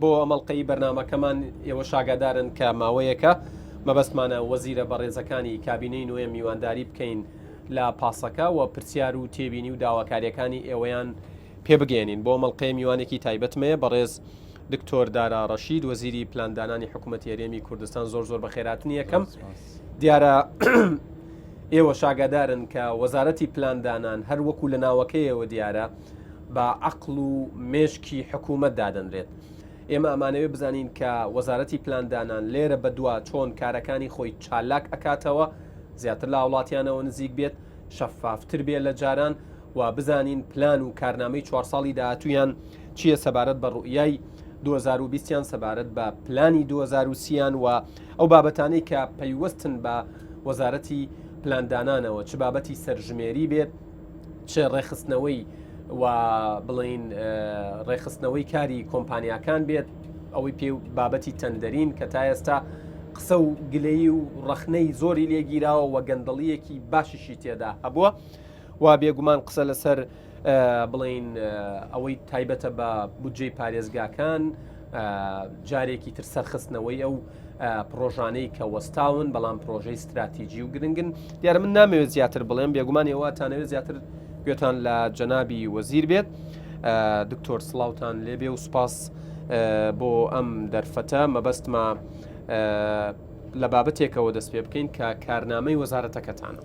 بۆ ئەمەڵقەی بەرنمەکەمان ئێوە شاگادارن کە ماوەیەکە مەبەستمانە وەزیرە بەڕێزەکانی کابینەی نوێ میوانداری بکەین لە پاسەکە و پرسیار و تێبینی و داواکاریەکانی ئێوەیان پێبگەێنین بۆ مەڵقەیە میوانێکی تایبەتمەیە بەڕێز دکتۆر دارا ڕەشید وەزیری پلاندانانی حکوومەت یاریێمی کوردستان زۆر زۆر بە خێراتنی یەکەم دیارە ئێوە شاگادارن کە وەزارەتی پلاندانان هەر وەکو لە ناوەکەیەوە دیارە بە عەقڵ و مێشکی حکوومەت دادەنرێت. ئێمە ئەمانەوێ بزانین کە وەزارەتی پلاندانان لێرە بە دوا چۆن کارەکانی خۆی چالاک ئەکاتەوە، زیاتر لە هاوڵاتیانەوە نزیک بێت، شەفافتر بێ لە جاران و بزانین پلان و کارنامەی چوار ساڵی داهاتوویان چییە سەبارەت بە ڕوئیای 2020 یان سەبارەت بە پلانی 2030 یان و ئەو بابەتانەی کە پەیوەستن بە وەزارەتی پلاندانانەوە چ بابەتی سەرژمێری بێت، چ ڕێخستنەوەی و بڵین ڕێخستنەوەی کاری کۆمپانیاکان بێت ئەوەی پێ بابەتی تەندەرین کە تا ئێستا قسە و گلەی و ڕەخنەی زۆری لێگیراوە و گەندەڵیەکی باشیشی تێدا هەبووە و بێگومان قسە لەسەر بڵین ئەوەی تایبەتە بە بودجەی پارێزگاکان جارێکی تر سەرخستنەوەی ئەو پرۆژانەی کە وەستاون بەڵام پرۆژەی ستراتیجی و گرنگن دیارە من نامەوێت زیاتر بڵێم بێگومان ئێواتانەوێت زیاتر گوێتان لە جەنابی وەزیر بێت دکتۆر سلااوان لێبێ و سپاس بۆ ئەم دەرفەتە مەبەستمە لە بابەتێکەوە دەست پێ بکەین کە کارنامەی وەزارەتەکەتانە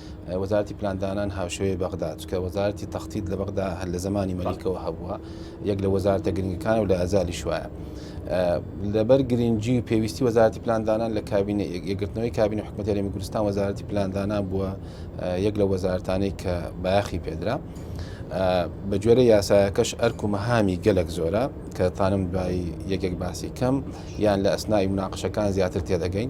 وەزارەتی پلاندانان هاوشێوەی بەغدا چکە وەزارەتی تەختیت لە بەغدا هەر لە زمانی مەلیکەوە هەبووە یەک لە وەزارتە گرنگەکان و لە ئەزالی شوایە لەبەر گرنگجی و پێویستی وەزارتی پلاندانان لە کابینە یەکگرتنەوەی کابینە حکومەتەری کوردستان وەزارتی پلاندانان بووە یەک لە وەزارتانەی کە بایخی پێدرا. بە گوێرە یاسایەکەش ئەرک و مەهامی گەلک زۆرە کە تانم دوایی یەکێک باسی کەم یان لە ئەسنای مناقشەکان زیاتر تێدەگەین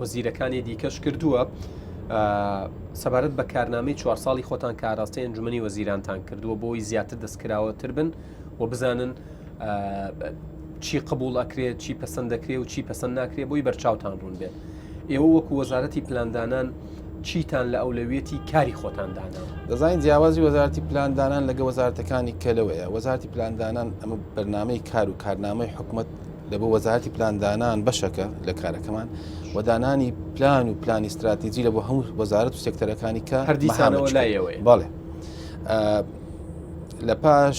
وەزیرەکانی دیکەش کردووە سەبارەت بە کارنامەی چوار ساڵی خۆتان کاراستەی ئەنجومی وەزیرانتان کردووە بۆی زیاتر دەستکراوەتر بن و بزانن چی قبول ئەکرێت چی پسند دەکرێت و چی پسند ناکرێت بۆی بەرچاوتان ڕوون بێت ئێوە وەکو وەزارەتی پلاندانان چیتان لە ئەولەویەتی کاری خۆتان دانا دەزانین جیاوازی وەزارتی پلاندانان لەگە وەزارتەکانی کەلەوەیە وەزارتی پلاندانان ئەمە بەرنمەی کار و کارنامەی حکومت لە بۆ وەزارەتی پلاندانان بەشەکە لە کارەکەمان و دانانی پلان و پلانی استراتیجی لە بۆ هەموو وەزارەت و سێکتەرەکانی کە هەردیسانەوە لایەوەی باڵێ لە پاش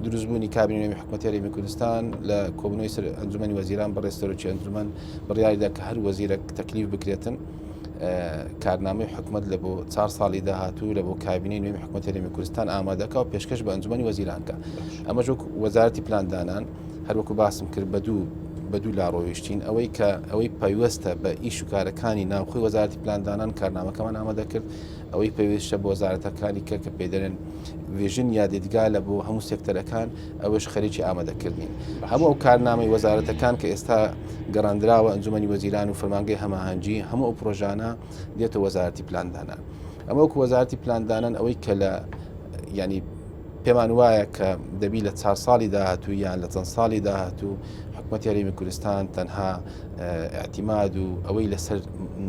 دروستبوونی کابینەوەی حکومەتێری من کوردستان لە کۆبنەوەی سەر ئەنجومی وەزیران بەڕێستەرۆکی ئەنجومەن بڕیاریدا کە هەر وەزیرە تەکلیف بکرێتن کارنامەی حکومت لە بۆ چار ساڵی داهاتوو لە بۆ کابینی نوێی حکومەتەری من کوردستان ئامادەکە و پێشکەش بە ئەنجومی وەزیرانکە ئەمەش وەزارتی پلاندانان هەروەکو باسم کرد بە دوو بە دوو لا ڕۆیشتین ئەوەی کە ئەوەی پەیوەستە بە ئیش و کارەکانی ناوخۆی وەزارتی پلاندانان کارنامەکەمان ئامادەکرد ئەوەی پێویستە بۆ وەزارەتەکانی کە کە پێدەێن وێژن یا دیدگا لە بۆ هەموو سێکتەرەکان ئەوەش خەریکی ئامادەکردین هەموو ئەو کارنامەی وەزارەتەکان کە ئێستا گەڕاندراوە ئەنجومی وەزیران و فەرمانگەی هەماهەنگی هەموو ئەو پرۆژانە دێتە وەزارەتی پلاندانان ئەمە وەکو وەزارەتی پلاندانان ئەوەی کە لە ینی پێمان وایە کە دەبی لە چا ساڵی داهاتوو یان لە چەند ساڵی داهاتوو حکوومەت یاریمی کوردستان تەنها ئەتیماد و ئەوەی لەسەر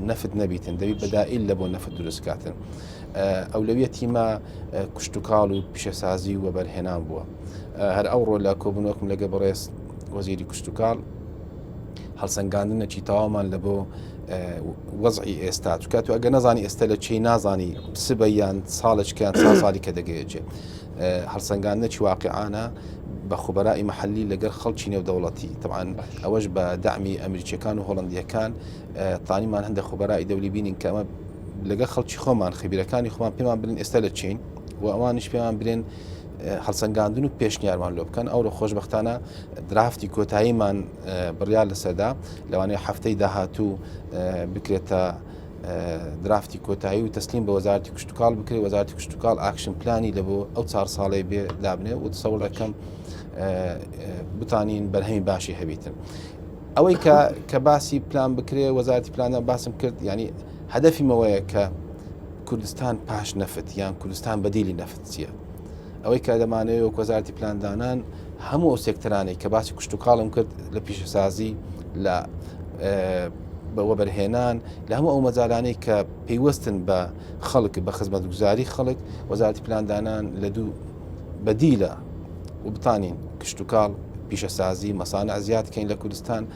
نەفت نەبیتن دەوی بەدائیل لە بۆ نەفت دروستکاتن ئەو لەویە تیمە کوشتتوکاڵ و پیشەسازی و وەبەرهێنان بووە هەر ئەوڕۆ لە کۆبنەوەکم لەگە بەڕێز وەزیری کوشتتوکاڵ هەڵسەنگاندنەکی تەواومان لە بۆ وەزعی ئێستا چکات و ئەگە نەزانی ئێستا لە چی نازانی سبە یان ساڵێکیان سا ساڵی کە دەگەێجێ هەڵسەنگاندنەکی واقعانە بە خوبەرائی محلی لەگەر خەڵکی نێودەوڵەتی تەوان ئەوەش بە دامی ئەمریکیەکان و هۆڵندیەکان تانیمان هەندە خوبەرائی دەولی بینین کەمە لەگە خەڵکی خۆمان خبیرەکانی خۆمان پێمان برین ئێستا لە چین و ئەوانش پێمان برێن هەڵسەنگاندن و پێشنیارمان لۆ بکەن ئەوڕۆ خۆشببختانە درافتی کۆتاییمان بڕیار لەسەردا لەوانەیە هەفتەی داهاتوو بکرێتە درافتی کۆتایی و تەسلیم بە وەزارتی کشتتوکال بکرێت وەزارتی کشتتوکال ئاکشن پلانی لە بۆ ئەو چار ساڵی بێ دابنێ و سەوڵ دەکەم بتانین بەرهەمی باشی هەبیتن ئەوەی کە کە باسی پلان بکرێ وەزارتی پلانە باسم کرد ینی هەدەفیمەوەیە کە کوردستان پاش نەفت یان کوردستان بەدیلی نەفت چییە ئەوەی کە دەمانەوێت وەک وەزارەتی پلاندانان هەموو ئەو سێکتەرانەی کە باسی کوشت و کاڵم کرد لە پیشەسازی لە بەوەبەرهێنان لە هەموو ئەو مەزارانەی کە پێیوەستن بە خەڵک بە خزمەت گوزاری خەڵک وەزارەتی پلاندانان لە دوو بەدیلە و بتانین کشتتوکاڵ پیشەسازی مەسانە زیادکەین لە کوردستان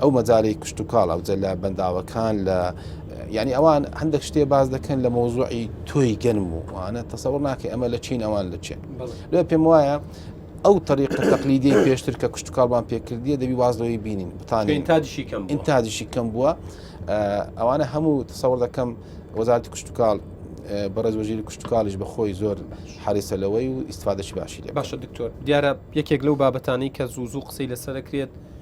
ئەو مەجالی کشتوکاڵ ئەو جەلە بەنداوەکان لە یعنی ئەوان هەندێک شتێ باز دەکەن لە مۆزوعی تۆی گەنم و وانە تەسەوە ناکە ئەمە لە چین ئەوان لە چێن لێ پێم وایە ئەو تەریق تەقلیدی پێشتر کە کشتتوکڵمان پێکردیە دەبی وازەوەی بینین بتانین تاجیشی کەم این تاجیشی کەم بووە ئەوانە هەموو تەسەوە دەکەم وەزارتی کشتتوکاڵ بەڕێز وەژیر کشتتوکالیش بەخۆی زۆر حریسە لەوەی و ئیسفادەشی باشی لێ باشە دکتۆر دیارە یەکێک لەو بابەتانی کە زوو زوو قسەی لەسەرکرێت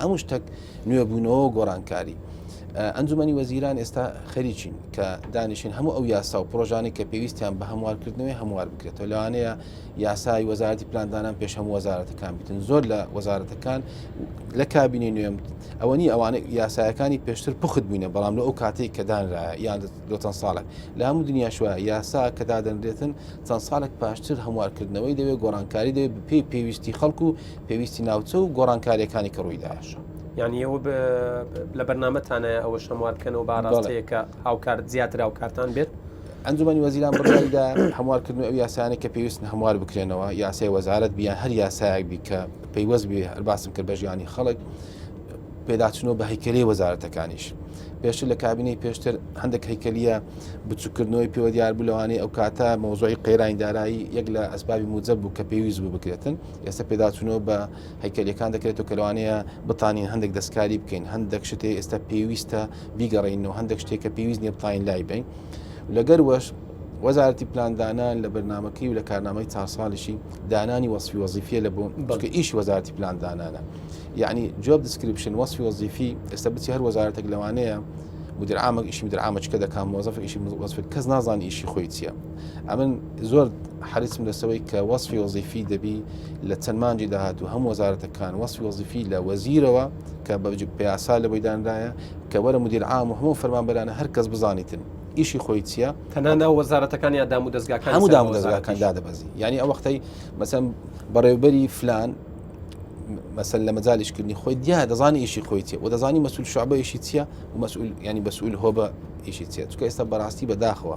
هەموو شتەک نوێبوونەوە و گۆڕانکاری. ئەنجومەنی وەزیران ئێستا خەریکین کە دانیشن هەموو ئەو یاسا و پرۆژانەی کە پێویستیان بە هەموارکردنەوەی هەموار بکرێتەوە لەوانەیە یاسای وەزارەتی پلاندانان پێش هەموو وەزارەتەکان بتن زۆر لە وەزارەتەکان لە کابینی نوێم ئەوەنی ئەوانە یاسایەکانی پێشتر پخت بووینە بەڵام لە ئەو کاتێک کە دانرا یان لۆ چەند ساڵێک لە هەموو دنیاشوە یاسا کە دادەنرێتن چەند ساڵێک پاشتر هەموارکردنەوەی دەوێت گۆڕانکاری دەوێت پێی پێویستی خەڵکو پێویستی ناوچە و گۆڕانکاریەکانی کە ڕووی داشە. یعنی ئەوە لە بەرنمەتانە ئەوە شەموار بکەنەوە باڕاستەیەکە هاوکارت زیاتر هاوکارتان بێت ئەنجومی وەزیران بڕیدا هەموارکردن ئەو یاسانە کە پێویستن هەموار بکرێنەوە یاسای وەزارت بیان هەر یاسایەک بی کە پەیوەست بێ هەر باسم کرد بە ژیانی خەڵک پێداچنەوە بە هەیکلی وەزارەتەکانیش پێشتر لە کابینەی پێشتر هەندێک هەیکلیە بچووکردنەوەی پێوە دیار بوو لەوانەیە ئەو کاتە مۆزۆی قەیرانی دارایی یەک لە ئەسبابی موجب بوو کە پێویست بوو بکرێتن ئێستا پێداچوونەوە بە هەیکەلیەکان دەکرێتەوە کە لەوانەیە بتانین هەندێک دەستکاری بکەین هەندێک شتێ ئێستا پێویستە بیگەڕینەوە هەندێک شتێک کە پێویست نیە بتانین لای بین لەگەر وەش وەزارەتی پلاندانان لە بەرنمەکەی و لە کارنامەی چار ساڵیشی دانانی وەصفی وەزیفە لە بۆ بەڵکە ئیش وەزارەتی پلاندانانە یعنی جواب دیسکرپشن وەصفی وەزیفی ئێستا بچی هەر وەزارەتێک لەوانەیە مدرعامە ئیشی مدرعامەچکە دەکات مۆزەف ئیشی وەزف کەس نازان ئیشی خۆی چیە ئەمن زۆر حەریسم لەسەوەی کە وەصفی وەزیفی دەبی لە چەند مانجی داهاتوو هەم وەزارەتەکان وەصفی وەزیفی لە وەزیرەوە کە بە پیاسا لە بەیداندایە کە وەرە مدیر عام و هەموو فەرمانبەرانە هەر کەس بزانیتن ئیشی خۆی چییە تەنها ناو وەزارەتەکان یا دام و دەستگاکان هەموو دام و دەستگاکان دادەبەزی یعنی ئەو وەختەی مەسەم بەڕێوبەری فلان مەسەل لە مەجالیشکردنی خۆی دیا دەزانانی ئیشی خۆی چێ و دەزانی مەسول شعبە ئیشی چییە و مەسول ینی بەسول هۆ بە ئیشی چێت چکە ئێستا بەڕاستی بەداخەوە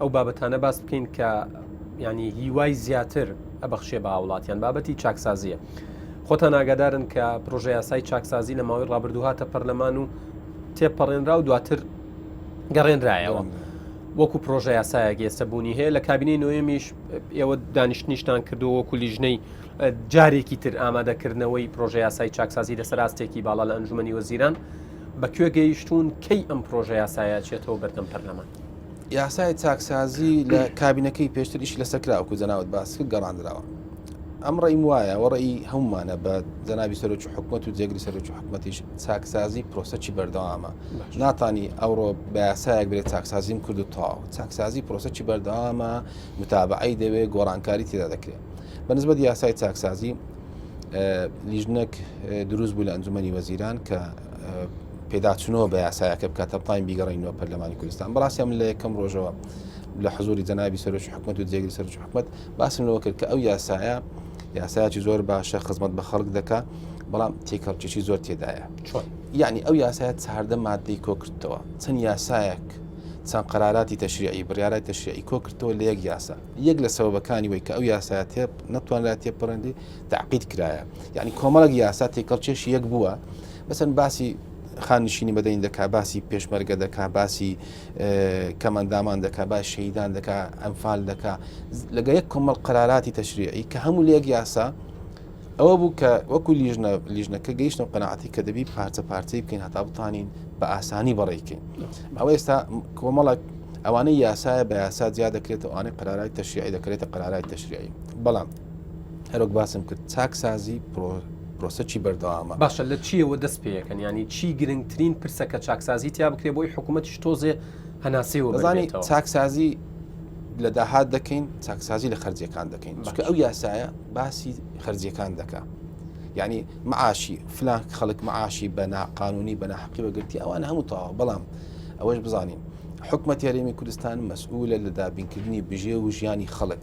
ئەو بابەتانە باس بکەین کە ینی هیوای زیاتر ئەبەخشێ بە وڵاتیان بابەتی چاکسازیە خۆتان ئاگادارن کە پرۆژه یاسای چاکسازی لە ماوەی ڕابردوهاتە پەرلەمان و تێپەڕێنرا و دواتر گەڕێنرایەوە. وەکو پرۆژە یاسایەک ئێستا بوونی هەیە لە کابینەی نوێمیش ئێوە دانیشتنیشتان کردو وەکو لیژنەی جارێکی تر ئامادەکردنەوەی پرۆژە یاسای چاکسازی لەسەر ئاستێکی باڵا لە ئەنجومی وەزیران بەکوێ گەیشتون کەی ئەم پرۆژە یاسایە چێتەوە بەردەم پەرلەمان یاسای چاکسازی لە کابینەکەی پێشتر ئیش لەسەر کراوەکو جەناوت باس کرد گەڕاندراوە ئەم ڕێیم وایە وەڕێی هەمومانە بە جەناوی سەرۆکی حکوومەت و جێگری سەرۆکی حکوومەتیش چاکسازی پرۆسەکی بەردەوامە ناتانی ئەوڕۆ بەیاسایەک بێت چاکسازیم کرد و تاو چاکسازی پرۆسەکی بەردەوامە متابعی دەوێت گۆڕانکاری تێدا دەکرێت بەنسبەت یاسای چاکسازی لیژنەک دروست بوو لە ئەنجومی وەزیران کە پێداچنەوە بە یاسایەکە بکات تا بتوانین بیگەڕینەوە پەرلەمانی کوردستان بەڕاستی من لە یەکەم ڕۆژەوە لە حزوری جەنابی سەرۆکی حکومت و جێگری سەرۆکی حکومت باسم لەوە کرد کە ئەو یاسایە یاسایکی زۆر باشە خزمەت بە خەڵک دەکا بەڵام تێکەڵکیی زۆر تێدایە چۆن یعنی ئەو یاسایە چاردە مادەی کۆکردەوە چەند یاسایەک چەند قراراتی تەشریعی بڕیارای تەشریعی کۆکردەوە لە یەک یاسا یەک لە سەوەکانی وی کە ئەو یاسایەتێ نەتوانرا تێپەڕندی تەعقید کرایە یعنی کۆمەڵک یاسا تێکەڵ چێشی یەک بووە بەسەن باسی خانشینی بەدەین دەکا باسی پێشمەرگە دەکا باسی کەمەندامان دەکا با شەیدان دەکا ئەمفال دەکا لەگە یەک کۆمەڵ قەراراتی تەشریعی کە هەموو لەک یاسا ئەوە بوو کە وەکو لیژنە لیژنەکە گەیشتە قەنەعاتی کە دەبی پارچە پارچەی بکەین هەتا بتانین بە ئاسانی بەڕێکەین ئەوە ئێستا کۆمەڵک ئەوانەی یاسایە بە یاسا جیا دەکرێتەوە ئەوانەی قەرارای تەشیعی دەکرێتە قەرارای تەشریعی بەڵام هەرۆک باسم کرد چاکسازی پرۆسەکی بەردەوامە باشە لە چیەوە دەست پێەکەن ینی چی گرنگترین پرسە کە چاکسازی تیا بکرێ بۆی حکوومەتش تۆزێ هەناسێ وەزانانی چاکسازی لە داهات دەکەین چاکسازی لە خەرجەکان دەکەین بەکە ئەو یاسایە باسی خەرجەکان دەکە یعنی معاشی فلان خەڵک معاشی بە ناقانونی بە ناحقی بەگرتی ئەوان هەموو تاوە بەڵام ئەوەش بزانین حکومە تێرێمی کوردستان مەسئولە لە دابینکردنی بژێ و ژیانی خەڵک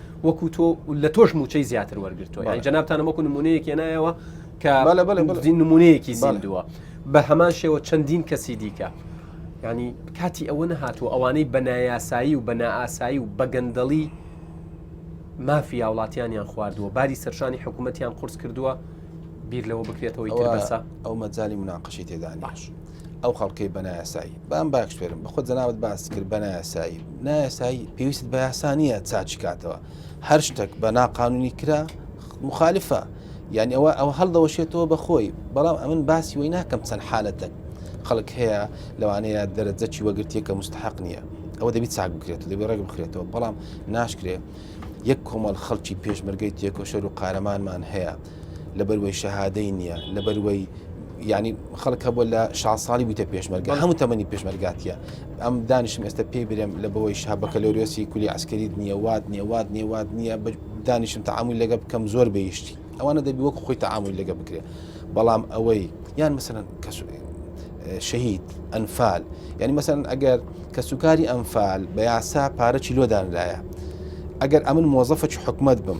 وەکو تۆ لە تۆش موچەی زیاتر وەرگتووە یان جنابتانە وەکو نمونەیەک هێنایەوە کە نمونەیەکی زیندووە بە هەمان شێوە چەندین کەسی دیکە ینی کاتی ئەوە نەهاتوو ئەوانەی بە نایاسایی و بە نائاسایی و بەگەندەڵی مافی هاوڵاتیانیان خواردووە باری سەرشانی حکوومەتیان قرس کردووە بیر لەوە بکرێتەوەی تربەسە ئەو مەجای مناقشی تێدان باش. ئەو خەڵکەی بە نایاسایی بام باش فێرم بەخۆ جەناوت باس کرد بە نایاسایی نایاسایی پێویست بە یاسانیە چاچی کاتەوە هەر شتێک بە ناقانونی کرا مخالفە یعنی ئەوە ئەوە هەڵدەوەشێتەوە بەخۆی بەڵام ئەمن باسی وی ناکەم چەند حالەتەک خەڵک هەیە لەوانەیە دەرەجەکی وەگرتیە کە مستحق نییە ئەوە دەبی چاک بکرێت دەبێ ڕێک بخرێتەوە بەڵام ناشکرێت یەک کۆمەڵ خەڵکی پێشمەرگەی تێکۆشەر و قارەمانمان هەیە لەبەر وەی شەهادەی نییە لەبەر وەی یعنی خەڵک هەبوو لە شا ساڵی بوویتە پێشمەرگە هەموو تەمەنی پێشمەرگاتە ئەم دانیشم ئێستا پێی برێم لە بەوەی شا بەکەلۆریۆسی کولی ئەسکەریت نییە وات نیە وات نیە وات نییە دانیشم تەعاامل لەگە بکەم زۆر بەیشتی ئەوانە دەبی وەک خۆی تەعاامل لەگە بکرێ بەڵام ئەوەی یان مثلەن کەس شەهید ئەنفال یعنی مەسەن ئەگەر کەسوکاری ئەمفال بە یاسا پارەی لۆدانلایە ئەگەر ئەمن مۆزەفەکی حکومت بم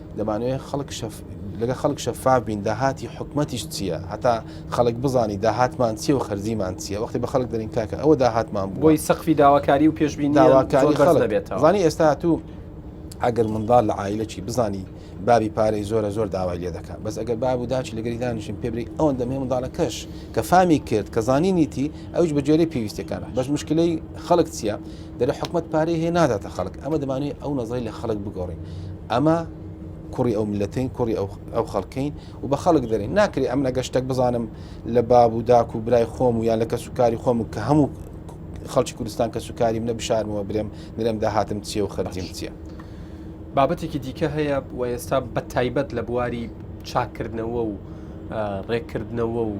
دەمانەوێت خەڵک شەف... لەگە خەڵک شەفاف بین داهاتی حکومەتیش چییە هەتا خەڵک بزانی داهاتمان چیە و خەرجیمان چیە وەختی بە خەڵک دەرین کاکە ئەوە داهاتمان بوو بۆی سەقفی داواکاری و پێشبین داواکاری خەڵک دەبێتەوە زانی ئێستا تو ئەگەر منداڵ لە عیلەکی بزانی بابی پارەی زۆرە زۆر داوای لێ دەکات بەس ئەگەر باب و داچی لەگەری دانیشین پێبری ئەوەن دەمێ منداڵەکەش کە فامی کرد کە زانینیتی ئەوش بەجێری پێویستەکان بەس مشکلی خەڵک چییە دەلێ حکومەت پارەی هەیە ناداتە خەڵک ئەمە دەمانوی ئەو نەزەی لە خەڵک بگۆڕین ئەمە کوڕی ئەو ملەتین کوڕی ئەو خەڵکەین و بە خەڵک دەرین ناکری ئەم نەگەشتەک بزانم لە باب و داک و برای خۆم و یان لە کەس و کاری خۆم کە هەموو خەڵکی کوردستان کەس و کاری منە بشارمەوە برێم نرێم داهاتم چیە و خەرجیم چیە بابەتێکی دیکە هەیە و ئێستا بە تایبەت لە بواری چاکردنەوە و ڕێککردنەوە و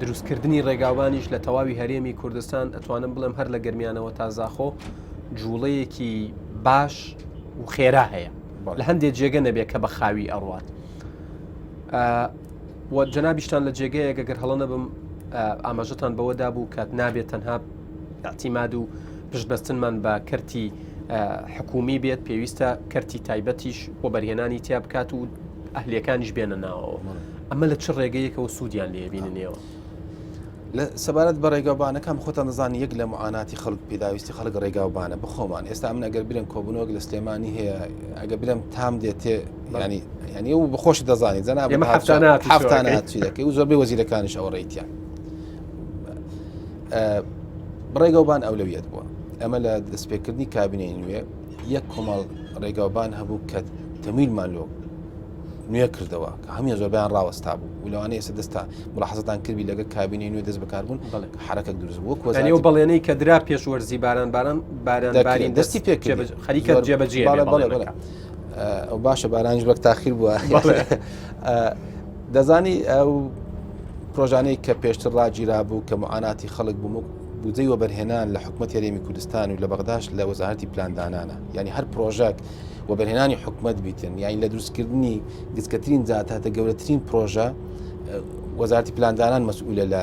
دروستکردنی ڕێگاوبانیش لە تەواوی هەرێمی کوردستان ئەتوانم بڵێم هەر لە گرمیانەوە تا زاخۆ جوڵەیەکی باش و خێرا هەیە لە هەندێک جێگە نەبێت کە بە خاوی ئەڕوات جەنابیشتان لە جێگەیەگە گەر هەڵە نەبم ئاماژەتان بەوەدا بوو کات نابێت تەنها ئیعتیماد و پشت بەستنمان بە کەرتی حکومی بێت پێویستە کەرتی تایبەتیش وەبەرهێنانی تیا بکات و ئەهلیەکانیش بێنە ناوەوە ئەمە لە چ ڕێگەیەکەوە سوودیان لێبیننەوە. لە سەبارەت بە ڕێگاوبانەکان خۆتان نزانانی یەک لە معاناتی خەڵک پێداویستی خەڵک ڕێگاوبانە بخۆمان ئێستا من ئەگەر برم کۆبنەوەک لە سلێمانی هەیە ئەگە برم تام دێتێ ینی ینی و بخۆش دەزانانی جەنا هەفتانە هەفتانە زۆربەی وەزیرەکانیش ئەوە ڕێیتیان ڕێگەوبان ئەولەویەت بووە ئەمە لە دەستپێکردنی کابینەی نوێ یەک کۆمەڵ ڕێگاوبان هەبوو کە تەمیلمان لۆ نوێ کردەوە کە هەمی زۆربیان ڕاوەستا بوو و لەوانەیە ئێستا دەستا ملاحزتان کردی لەگە کابینی نوێ دەست بەکاربوون حرەکە دروست بوو وەزانانی و بەڵێنەی کە درا پێش وەرزی باران باران باران باری دەستی پێ خەریکە جێبەجێ ئەو باشە بارانج وەک تاخیر بووە دەزانی ئەو پرۆژانەی کە پێشتر ڕاگیرا بوو کە معاناتی خەڵک بووم بودەی وەبەرهێنان لە حکوومەت یاریمی کوردستان و لە بەغداش لە وەزارەتی پلاندانانە ینی هەر پرۆژەک وەبەرهێنانی حکوومەت بیتن یانی لە دروستکردنی گچکەترین زیاتاتە گەورەترین پرۆژە وەزارتی پلاندانان مەسئولە لە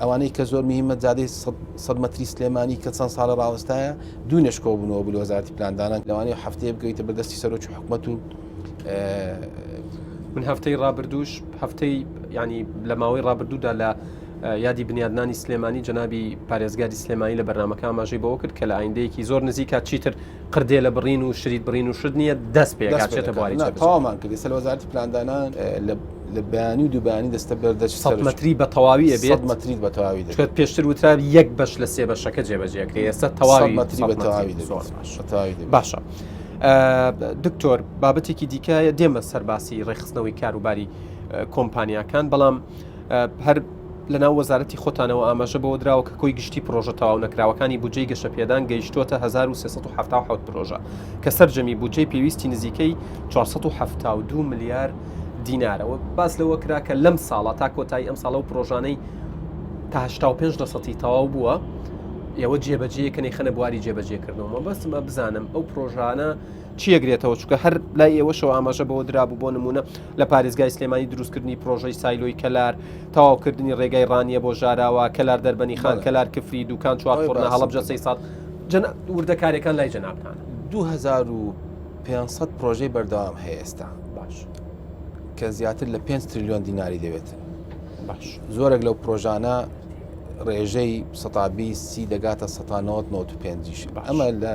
ئەوانەی کە زۆر مهمە جادەی سەد مەتری سلێمانی کە چەند ساڵە ڕاوەستایە دوو نشکۆ بوونەوە بل وەزارتی پلاندانان لەوانی و هەفتەیە بگەیتە بەدەستی سەرۆکی حکومەت و من هەفتەی ڕابردوش هەفتەی ینی لە ماوەی ڕابردوودا لە یادی بنیادنانی سلێمانی جەنابی پارێزگاری سلێمانی لە بەرنمەکە ئاماژەی بەوە کرد کە لە ئایندەیەکی زۆر نزیکات چیتر قردێلە بڕین و شریت بڕین و شت نییە دەست پێکچێتە بواری تاوامان کردی سەر وەزارتی پلاندانان لە بەیانی و دوبانی دەستە بەردە مەتری بە تەواوی ئەبێت مەتریت بە تەواوی دەکات پێشتر وترا یەک بەش لە سێ بەشەکە جێبەجێکرێ ئێستا تەواوی مەتری بە تەواوی دەتەواوی باشە. دکتۆر بابەتێکی دیکایە دێمە سەرباسی ڕێخستنەوەی کاروباری کۆمپانیاکان بەڵام هەر لەناو وەزارەتی خۆتانەوە ئاماژە بەوە دراوە کە کۆی گشتی پڕۆژە تەواو نەکراوەکانی بودجەی گەشەپێدان گەیشتووەتە هەزار و سێ سەد و حەفتا و حەوت پرۆژە کە سەرجەمی بودجەی پێویستی نزیکەی چوار سەد و حەفتا و دوو ملیار دینارە و باس لەوە کرا کە لەم ساڵە تا کۆتایی ئەمساڵ ئەو پرۆژانەی تا هەشتا و پێنج لەسەدی تەواو بووە ئێوە جێبەجێیەکە نەیخەنە بواری جێبەجێکردنەوە مەبەستمە بزانم ئەو پرۆژانە چیەگرێتەوە چکە هەر لای ئێوەشەوە ئاماژە بەوە درابوو بۆ نمونە لە پارێزگای سلێمانی دروستکردنی پرۆژەی سایلۆی کەلار، تەواوکردنی رێگای رانیە بۆ ژاراوە، کەلار دەربەنیخان، کەلار کفری، دوکان چوار فڕنە، هەڵەبجە سەیساڵ، جەناب، وردەکاریەکان لای جەنابتانە. دوو هەزار و پێنج سەد پرۆژەی بەردەوام هەیە ئێستا. باش. کە زیاتر لە پێنج ترلیۆن دیناری دەوێت. باش. زۆرێک لەو پرۆژانە ڕێژەی سەتا بیست سی دەگاتە سەتا نەوەت نەوەت و پێنجیش. ئەمە لە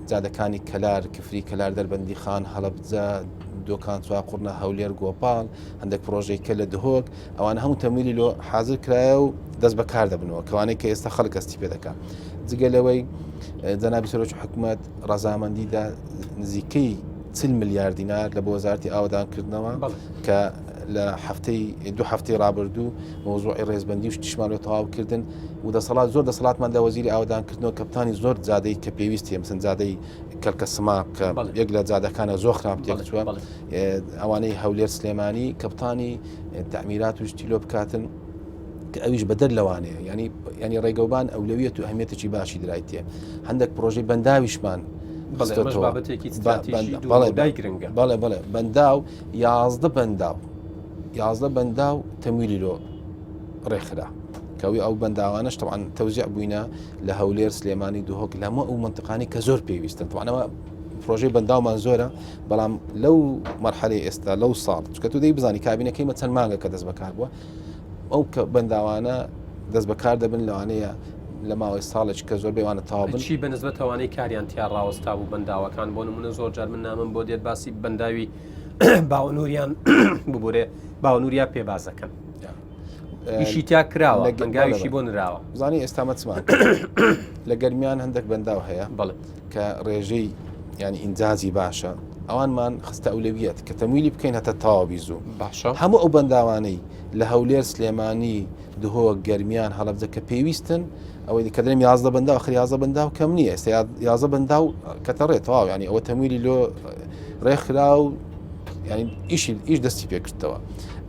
جادەکانی کەلار، کفری، کەلار، دەربەندیخان، هەڵەبجە، دۆکان، چواقوڕنە، هەولێر، گۆپاڵ، هەندێک پرۆژەی کە لە دهۆک ئەوان هەموو تەمویلی لۆ حاضر کرایە و دەست بەکار دەبنەوە کەوانەی کە ئێستا خەڵک ئەستی پێ دەکات جگە لەوەی جەنابی سەرۆکی حکوومەت ڕەزامەندیدا نزیکەی چل ملیار دینار لە بۆ وەزارتی ئاوادان کردنەوە کە لە هەفتەی دو هەفتەی ڕابردوو مۆزوعی ڕێزبندی و شتیشمان لە تەواوکردن و دەسەڵات زۆر دەسەڵاتمان لە وەزیری ئاوەدان کردنەوە کە بتانی زۆر جادەی کە پێویست هەیە مثلا جادەی کەلکە سما کە یەک لە جادەکانە زۆر خراپ تێکچووە ئەوانەی هەولێر سلێمانی کەپتانی تعمیرات و شتیلۆ بکاتن کە ئەویش بەدەر لەوانەیە ینی ینی ڕێگەوبان ئەولەویەت و ئەهمیەتێکی باشی درایتێ هەندێک پرۆژی بەنداویشمان بەڵێ بڵێ بەنداو یازدە بەنداو یازدە بەنداو تەمویلی لۆ ڕێکخرا کەوی ئەو بەنداوانش تەوان تەوزیع بووینە لە هەولێر سلێمانی دهۆک لەمە ئەو منتقانی کە زۆر پێویستن توانەوە پرۆژەی بەنداومان زۆرە بەڵام لەو مەرحەلی ئێستا لەو ساڵ چکە تو دەی بزانانی کابینەکەی مە چەند مانگە کە دەست بەکار بووە ئەو کە بەنداوانە دەست بەکار دەبن لەوانەیە لە ماوەی ساڵێک کە زۆر بێوانە تاوابن چی بە نزبەتەوانەی کاریان تیا ڕاوەستا بوو بەنداوەکان بۆ نمونە زۆر جار من نامم بۆ دێت باسی بەنداوی باوەنووریان ببورێ باوەنوریا پێبازەکەن ئیشی تیا کراوە گەنگاویشی بۆ نراوە زانی ئێستا مەچمان لە گەرمیان هەندێک بەنداو هەیە بڵێ کە ڕێژەی ینی ئینجازی باشە ئەوانمان خستە ئەولەویەت کە تەمویلی بکەین هەتا تاوا بیزو باشە هەموو ئەو بەنداوانەی لە هەولێر سلێمانی دهۆ گەرمیان هەڵبجە کە پێویستن ئەوەی کە دەم یازدە بەندا خ یازە بەندا و کەم نییە ئێستا یازە بەندا و کەتەڕێتەواو ینی ئەوە تەمویلی لۆ ڕێکخرا و ئیشی ئیش دەستی پێکردەوە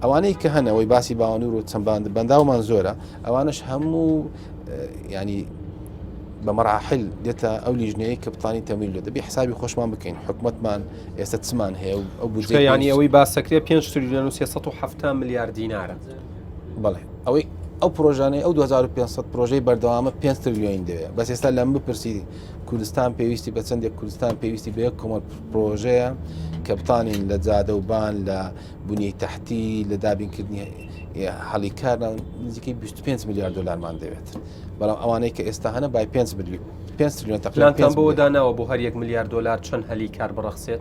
ئەوانەی کە هەنەوەی باسی باوانور و چەند باند بەنداومان زۆرە ئەوانش هەموو ینی بە مەراحل دێتە ئەو لیژنەیە کە بتانی تەمیل لە دەبی حسابی خۆشمان بکەین حکومتمان ئێستا چمان هەیە و ئەو بجیانی ئەوەی باسەکرێ 5 تریلیۆن و 370 میلیارد دینارە بڵێ ئەوەی ئەو پرۆژانەی ئەو 2500 پرۆژەی بەردەوامە پێ تریلیۆین دەوێت بەس ئێستا لەم بپرسی کوردستان پێویستی بە چەندێک کوردستان پێویستی بە یەک کۆمەڵ پرۆژەیە کە بتانین لە جادە و بان لە بنیەی تحتی لە دابینکردنی حەڵی کار نزیکەی 25 میلیارد دلارمان دەوێت بەڵام ئەوانەی کە ئێستا هەنە بای 5 میلیون پێنج تریلیۆن تەقلانتان بۆ داناوە بۆ هەر یەک ملیار دلار چەند هەلی کار بڕەخسێت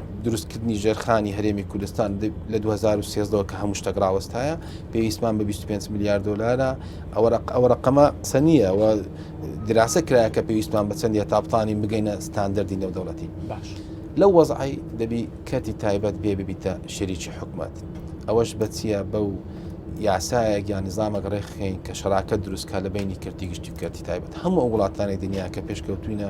دروستکردنی ژێرخانی هەرێمی کوردستان لە 2013ەوە کە هەموو شتەک ڕاوەستایە پێویستمان بە 25 میلیارد دلارە ئەوە ڕقەمە قسە نییە و دراسە کرایە کە پێویستمان بە چەندە تاپتانی بگەینە ستاندەری نێودەوڵەتی باش لەو وەزعی دەبی کەتی تایبەت پێ ببیتە شەریکی حکومت ئەوەش بەچیە بەو یاسایەک یا نظامەک ڕێخین کە شراکە دروستکە لە بینی کردی گشتی کەتی تایبەت هەموو وڵاتانی دنیا کە پێشکەوتوینە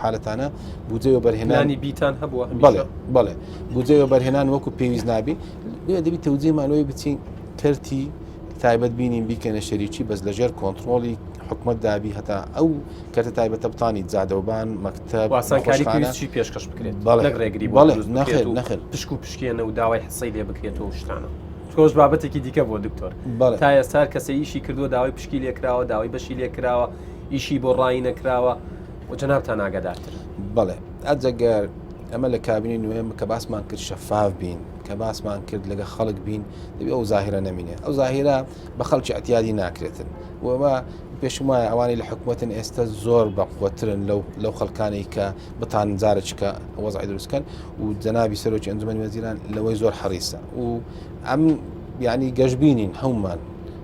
حالەتانە بودجەی وەبەرهێنان پلانی بیتان هەبووە بەڵێ هەمیشە بەڵێ بودجەی وەبەرهێنان وەکو پێویست نابی لێ دەبی تەوجیهمان لەوەی بچین کەرتی تایبەت بینین بیکەنە شەریکی بەس لەژێر کۆنتترۆڵی حکومت دابی هەتا ئەو کەرتە تایبەتە بتانی جادەوبان مەکتب و ئاسانکاری نەخۆشخانە. پێویستی پێشکەش بکرێت بەڵێ. نەک ڕێگری بۆ بەڵێ، دروست نەخێر، بکرێت و نەخێر. پشک و پشکێنە و داوای حسەی لێ بکرێت و شتانە تۆش بابەتێکی دیکە بۆ دکتۆر بەڵێ. تا ئێستا هەر کەسە ئیشی کردووە داوای پشکی لێکراوە داوای بەشی لێکراوە ئیشی بۆ ڕایی نەکراوە و جەنابتان ئاگادارترن. بەڵێ ئەجەگەر ئەمە لە کابینی نوێم کە باسمان کرد شەفاف بین کە باسمان کرد لەگە خەڵک بین دەبێ ئەو زاهرە نەمینێ ئەو زاهرە بە خەڵکی ئەتیادی ناکرێتن وەوە پێشم وایە ئەوانی لە حکوومەتن ئێستا زۆر بەقوترن لەو لەو خەڵکانی کە بتان جارێککە وەزای دروستکەن و جەنابی سەرۆکی ئەنجومی وەزیران لەوەی زۆر حەریسە و ئەم یعنی گەشببینین هەومان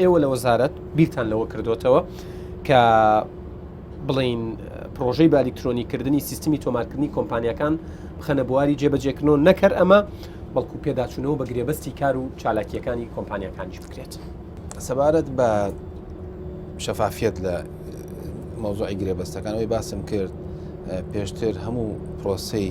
ئێوە لە وەزارەت بیرتان لەوە کردوتەوە کە بڵین پرۆژەی بالیکترۆنی کردنی سیستمی تۆمارکردنی کۆمپانیەکان بخەنە بواری جێبەجێکردنەوە نەکەر ئەمە بەڵکو پێداچوونەوە بە گرێبەستی کار و چالاکیەکانی کۆمپانیەکانیش بکرێت سەبارەت بە شەفافیت لە مۆزۆی گرێبەستەکانەوەی باسم کرد پێشتر هەموو پرۆسی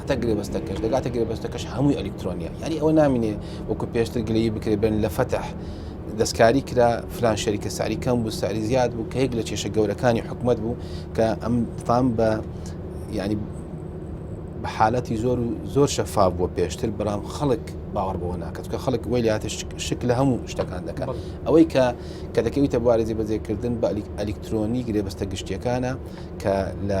هەتا گرێبەستەکەش دەگاتە گرێبەستەکەش هەمووی ئەلکترۆنیە یاری ئەوە نامینێ وەکو پێشتر گلەیی بکرێ بن لە فەتح دەستکاری کرا فلان شەریکە ساری کەم بوو ساری زیاد بوو کە یەک لە کێشە گەورەکانی حکومت بوو کە ئەم فام بە ینی بە حالەتی زۆر و زۆر شەفا بووە پێشتر بەڵام خەڵک باوەڕ بەوە ناکەت کە خەڵک وی لاتە شک لە هەموو شتەکان دەکەن ئەوەی کە کە دەکەویتە بوارەجی بەجێکردن بە ئەلیکترۆنی گرێبەستە گشتیەکانە کە لە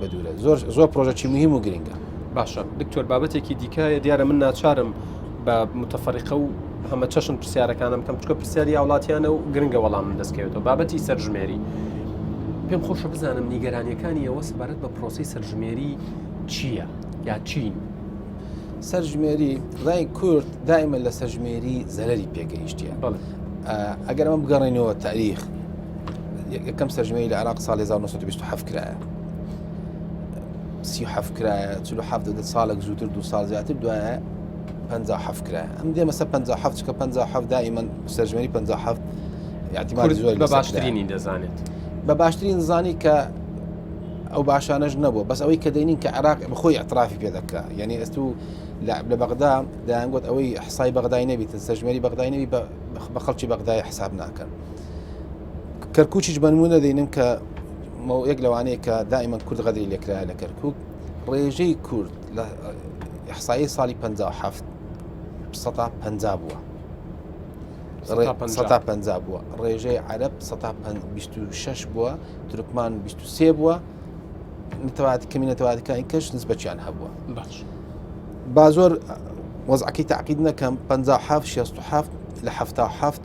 بەدورە زۆر زۆر پرۆژەکی مهم و گرنگە باشە دکتۆر بابەتێکی دیکایە دیارە من ناچارم بە متفەریقە و هەمە چەشن پرسیارەکانم کەم چکە پرسیاری هاوڵاتیانە و گرنگە وەڵام من دەستکەوێتەوە بابەتی سەرژمێری پێم خۆشە بزانم نیگەرانیەکانی ئەوە سبارەت بە پرۆسی سەرژمێری چییە یا چین سەرژمێری ڕای کورد دایمە لە سەرژمێری زەرری پێگەیشتە ئەگەر ئەمە بگەڕێنەوە تاریخ یەکەم سەرژمێری لە عراق ساڵ 1927 کرایە سی حەف کرایە چ حەفت دە ساڵێک زووتر دو سال زیاتر دوایە پ حەف کرایە ئەم دێمە سە پ حەفت کە پ حەفت دائیمە سەرژمێری پ حەفت یاعتیمان زۆر بە باشترینی دەزانێت بە باشترین زانی کە ئەو باشانەش نەبوو بەس ئەوەی کە دەینین کە عراق بخۆی ئەترافی پێ دەکە یعنی ئەست و لە بەغدا دایانگوت ئەوەی حسای بەغدای نەبیتن سەژمێری بەغدای نەوی بە خەڵکی بەغدای حساب ناکەن. کەرکوچیش بەنمونە دەینم کە یەک لەوانەیە کە دائیمەن کورد غەدری لێکرا لە کەرکک ڕێژەی کورد لە حسایی ساڵی 1970 150 بووە. 150 بووە ڕێژەی عرب 26 بووە ترکمان 23 بووە نتەوات کەمینەتەواتەکانی کەش نسبەچیان هەبووە باش با زۆر وەزعەکەی تعقید نەکەم 5 لە هەفتا هەفت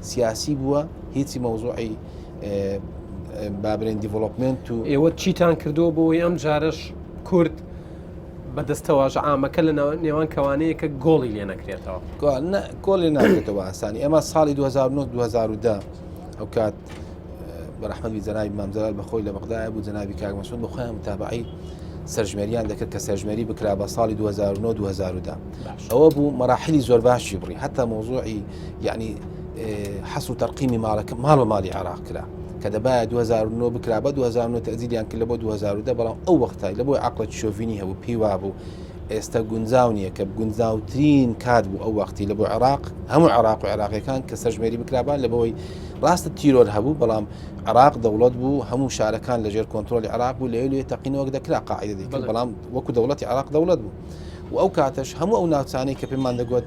سیاسی بووە هیچی مەوزوعی بابرێن دیڤڵۆپمنت و ئێوە چیتان کردو بۆی ئەم جارش کورد بەدەستەواژە ئامەکە لە نێوان کەوانەیەکە گۆڵی لێ نەکرێتەوە کۆلی ناکرێتەوە ئاسانی ئێمە ساڵی 2009 ئەو کات بەرحمەوی جەنای مامزار بەخۆی لە بەغدای بوو جەناوی کاگمەسون بەخۆیان متابعی سەرژمێریان دەکرد کە سەرژمێری بکرا بە ساڵی 2009 2010 ئەوە بوو مەراحلی زۆر باشی بڕی هەتا مۆزۆعی یعنی حەس و تەرقیمی ماڵەکە ماڵ بە ماڵی عراق کرا کە دەبایە 2009 بکرا بە 2009 تەزیلیان کرد لە بۆ 2010 بەڵام ئەو وەختای لە بۆی عقلت شۆڤینی هەبوو پێی وابوو ئێستا گونجاو نییە کە گونجاوترین کات بوو ئەو وەختی لە بۆ عراق هەموو عراق و عراقیەکان کە سەرژمێری بکرابان لە بەوەی ڕاستە تیرۆر هەبوو بەڵام عراق دەوڵەت بوو هەموو شارەکان لەژێر کۆنتترۆلی عراق بوو لەوێ لێ تەقینەوەک دەکرا قاعدە دەکرد بەڵام وەکو دەوڵەتی عراق دەوڵەت بوو و ئەو کاتەش هەموو ئەو ناوچانەی کە پێمان دەگوت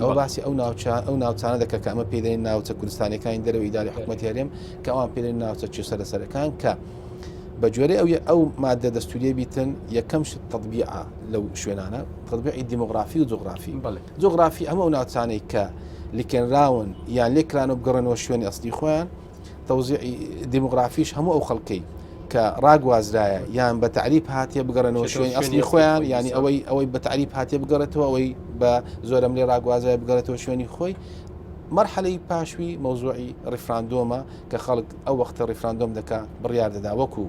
ئەوە باسی ئەو ناوچە ئەو ناوچانە دەکە کە ئەمە پێدەین ناوچە کوردستانەکانی دەرەوەی داری حکوومەتی هەرێم کە ئەوان پێدەین ناوچە چێ سەرە سەرەکان کە بە جۆرە ئەو ئەو مادە دەستوریە بیتن یەکەم شت تطببیعە لەو شوێنانە تطببیعی دیموگرافی و جوگرافی جوگرافی ئەمە ئەو ناوچانەی کە لکێنراون یان لێکران و بگەڕنەوە شوێنی ئەستی خۆیان تەوزیعی دیمۆگرافیش هەموو ئەو خەڵکەی کە ڕاگوازرایە یان بە تعریب هااتێ بگەڕێنەوە شوێنی ئەسلی خۆیان ینی ئەوەی ئەوەی بە تعریب هااتێ بگەڕێتەوە ئەوەی بە زۆرم لێ ڕاگوازای بگەڕێتەوە شوێنی خۆی مەرحەلەی پاشوی مەوزوعی ڕیفراندۆمە کە خەڵک ئەو وەختە ڕیفراندۆم دەکا بڕیار دەدا وەکو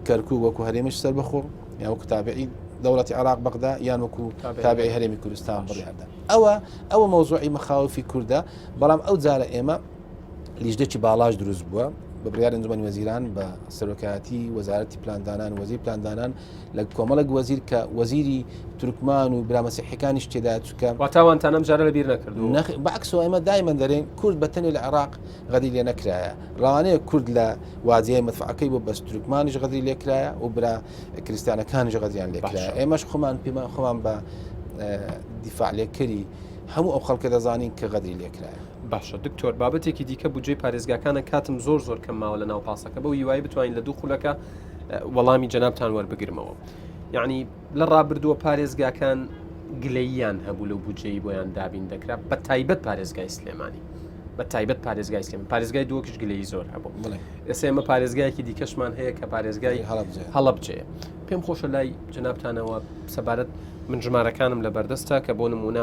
کەرکو وەکو هەرێمش سەر بەخۆ یا وەکو تابعی دەوڵەتی عراق بەغدا یان وەکو تابعی هەرێمی کوردستان بڕیاردا ئەوە ئەوە مەوزوعی مەخاوفی کووردە بەڵام ئەو جارە ئێمە لیژنەی باڵاش دروست بووە بە بڕیار ئەنجومەنی وەزیران بە سەرۆکایەتی وەزارەتی پلاندانان وەزیر پلاندانان لە کۆمەڵک وەزیر کە وەزیری تورکمان و برامەسیحەکانیش تێدا چکە واتاوانتانم جارە لە بیر نەکرد بەعکسۆ ئەمە دایمەن دەرێن کورد بە تەنی لە عراق غەدی لێ نەکرایە ڕوانەیە کورد لە وادیای مدفعەکەی بۆ بەس تورکمانیش غەدری لێکرایە و برا کریسیانەکانیش غەدیان لێکرایە ئێمەش خۆمان پێمان خۆمان بە دیفاع لێکەری هەموو ئەو خەڵکە دەزانین کە غەدری لێکرایە باشە دکتۆر بابەتێکی دیکە بودجەی پارێزگاکانە کاتم زۆر زۆر کەم ماوە لە ناو پاسەکە بەو هیوای بتوانین لە دوو خولەکە وەڵامی جەنابتان وەربگرمەوە یعنی لە ڕابردووە پارێزگاکان گلەییان هەبوو لەو بودجەی بۆیان دابین دەکرا بە تایبەت پارێزگای سلێمانی بە تایبەت پارێزگای سلێم پارێزگای دووەکیش گلەی زۆر هەبوو ئێستا ئمە پارێزگایەکی دیکەشمان هەیە کە پارێزگای هەڵبجێ پێم خۆشە لای جنابتانەوە سەبارەت من ژمارەکانم لە بەردەستە کە بۆ نمونە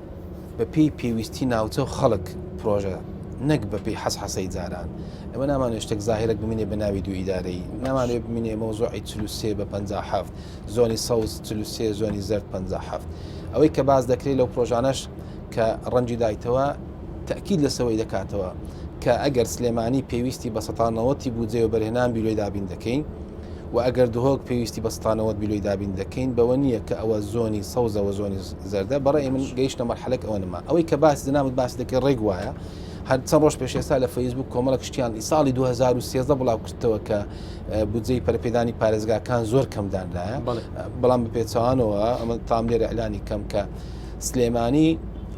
بەپێی پێویستی ناوچە و خەڵک پرۆژە نەک بەپی حەس حەسەی جاران ئەمە نامان شتێک زاهرت بمینێ بە ناوی دوو ئیدارەی نامانێ بمینێ مۆزۆی چلوسێ بە 57 زۆنی سەوز چلوسێ زۆنی زرد 57 ئەوەی کە باز دەکرێت لەو پرۆژانەش کە ڕەنجی دایتەوە تاکیید لەسەوەی دەکاتەوە کە ئەگەر سلێمانی پێویستی بە سەتانەوەتی بودجێ و بەرهێنان بیلۆی دابین دەکەین و ئەگەر دهۆک پێویستی بەستانەوە بیلۆی دابین دەکەین بەوە نییە کە ئەوە زۆنی سەوزەوە زۆنی زەردە بەڕەی من گەیشتە مەرحەلەک ئەوە نما ئەوەی کە باس زنابت باس دەکەی ڕێک وایە هەر چەند ڕۆژ پێش ئێستا لە فەیسبوک کۆمەڵە کشتیان ئی ساڵی 2013 بڵاو کردەوە کە بودجەی پەرپێدانی پارێزگاکان زۆر کەمدانرایە بەڵام بە پێچوانەوە ئەمە تام لێرە ئەلانی کەم کە سلێمانی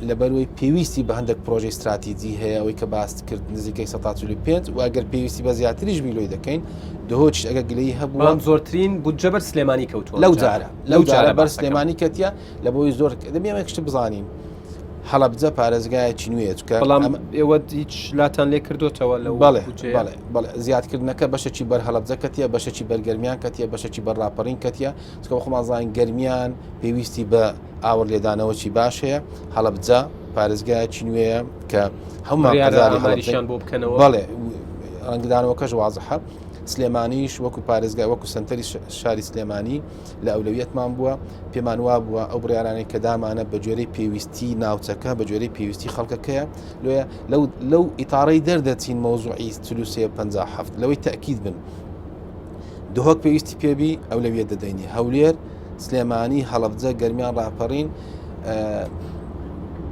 لەبەروی پێویستی بە هەندێک پرۆژی استراتیجی هەیە ئەوەی کە باست کرد نزیکەی 5 واگەر پێویستی بە زیاتریش بیلۆی دەکەین دهۆچ ئەگە گلەی هەبووان زۆرترین بودجە بەر سلێمانی کەوتووە لەو جارە لەو جارە بەر سلێمانی کەتیە لە بۆی زۆر دەبێمێک شت بزانین هەڵبجە پارێزگایەکی نوێ چکە بەڵام ئێوە هیچ لاتان لێ کردوتەوە لە بەڵێ بەڵێ زیادکردنەکە بەشەکی بەر هەڵبجە کەتیە بەشەکی بەرگەرمیان کەتیە بەشەکی بەر ڕاپەڕین کەتیە چکە خۆمانزانین گەرمیان پێویستی بە ئاور لێدانەوەی باش هەیە هەڵبجە پارێزگایەکی نوێیە کە هەموو یاریشان بۆ بکەنەوە بەڵێ ڕەنگدانەوەکەش وازحە سلێمانیش وەکو پارێزگا وەکو سنتەری شاری سلێمانی لە ئەولەویەتمان بووە پێمان وا بووە ئەو بڕارانەی کە دامانە بە جۆرەی پێویستی ناوچەکە بە جۆرەی پێویستی خەڵکەکەیە لێ لەو لەو ئیتارەی دەردەچین مەوزوعی سلوسێ 57 لەوەی تاکیید بن دهۆک پێویستی پێبی ئەو لەویە دەدەینی هەولێر سلێمانی هەڵبجە گەرمیان ڕاپەڕین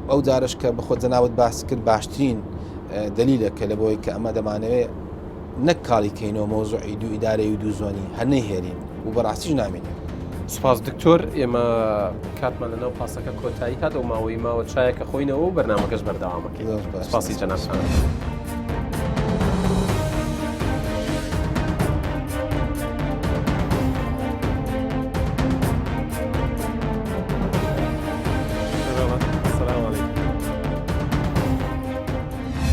ئەو جارش کە بەخۆ جەناوت باس کرد باشترین دلیلەکە لە بۆی کە ئەمە دەمانەوێت نەک کاڵی کەینەوە مەوزوعی دوو ئیدارەی و دوو زۆنی هەر نەیهێلین و بەڕاستیش نامێنێ. سوپاس دکتۆر ئێمە کاتمان لەناو پاسەکە کۆتایی هات ئەو ماوەی ماوە چایەکە خۆینەوە و بەرنمەکەش بەردەوامەکەی سوپاسی جەنابتان.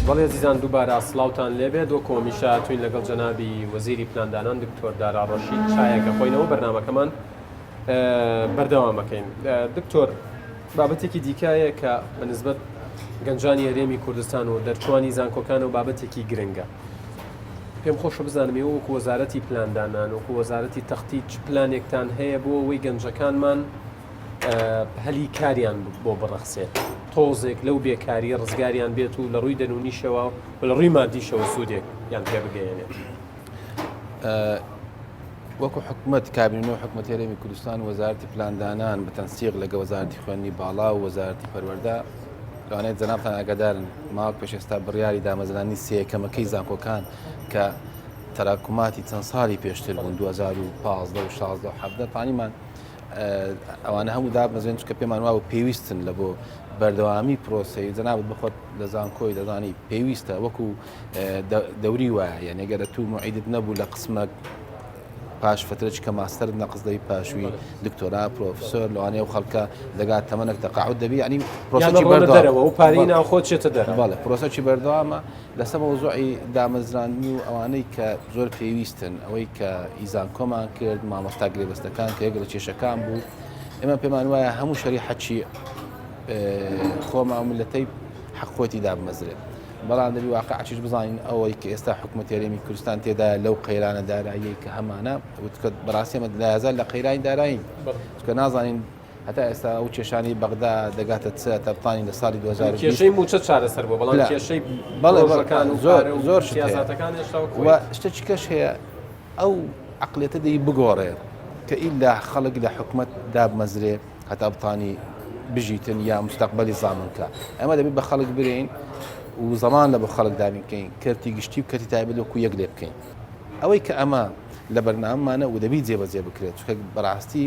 بەڵی ئەزیزان دووبارە سڵاوتان لێبێت وەکو هەمیشە هاتووین لەگەڵ جەنابی وەزیری پلاندانان دکتۆر دارا ڕەشید چایەک دەخۆینەوە بەرنمەکەمان بەردەوامەکەین دکتۆر بابەتێکی دیکایە کە بە نسبەت گەنجانی هەرێمی کوردستان و دەرچوانی زانکۆکان و بابەتێکی گرنگە پێم خۆشە بزانم ئێوە وەکو وەزارەتی پلاندانان وەکو وەزارەتی تەختی چ پلانێکتان هەیە بۆ ئەوەی گەنجەکانمان هەلی کاریان بۆ بڕەخسێت تۆزێک لەو بێکاری ڕزگاریان بێت و لە ڕووی دەنونیشەوە و لە ڕووی مادیشەوە سوودێک یان پێ بگەێنێت. وەکو حکومت کابینە و حکومت هەرێمی کوردستان وەزارتی پلاندانان بە تەنسیق لەگە وەزارتی خوێندنی باڵا و وەزارتی پەروەەردە لەوانەیە جەنابان ئاگادارن ماوە پێش ئێستا بڕیاری دامەزرانی سێکەمەکەی زانکۆکان کە تەراکوماتی چەند ساڵی پێشتر بوون 2015 16 حەبدە پانیمان ئەوانە هەموو دابەزێن چکە پێمان وابوو پێویستن لە بۆ بەردەوامی پرۆسی جەنابەت بخۆت لە زانکۆی دەزانی پێویستە وەکو دەوری وایە یانێگەرە تو معیدت نەبوو لە قسمە پاش فترەچ کە ماستەر نەقز دەی پاشوی دکتۆرا پرۆفسۆر لەوانەیە و خەڵکە دەگا تەمەەک تەقاعود دەبی ینی پرۆسەرەوە و پاری ناوخۆ چێتە دەرەوە لە پرۆسەی بەردەوامە لەسەر مەوزوعی دامەزراندنی و ئەوانەی کە زۆر پێویستن ئەوەی کە ئیزانکۆمان کرد مامۆستا گرێبەستەکان کە یەک لە کێشەکان بوو ئێمە پێمان وایە هەموو شەری حەچی خۆمان ملەتەی حەقۆتی دابمەزرێت بەڵام دەبی واقعچش بزانین ئەوەی کە ئێستا حکوومەت یاریمی کوردستان تێدا لەو قەیرانە دارایی کە هەمانە وتکە بەڕاستێمە لایزان لە قەیرانی دارایی کە نازانین هەتا ئێستا ئەو کێشانی بەغدا دەگاتە چ تەبتانی لە ساڵی 2000 و کێشەی موچە چارەسەر بۆ بەڵام لا. کێشەی بەڵێ بەڵێ پرۆژەکان و زۆر پارە و زۆر شت هەیە. سیاسەتەکان هێشتا وەک و خۆی. شتێکی کەش هەیە ئەو عقلێتە دەی بگۆڕێ کە ئیلا خەڵک لە حکومەت دابمەزرێ هەتا بتانی بژیتن یا مستەقبەلی زامن کا ئەمە دەبێت بە خەڵک برێین و زەمان لە بە خەڵک دابین بکەین کەرتی گشتی و کەرتی تایبەت وەکو یەک لێ بکەین ئەوەی کە ئەمە لە بەرنامەمانە و دەبی جێبەجێ بکرێت چونکە بەڕاستی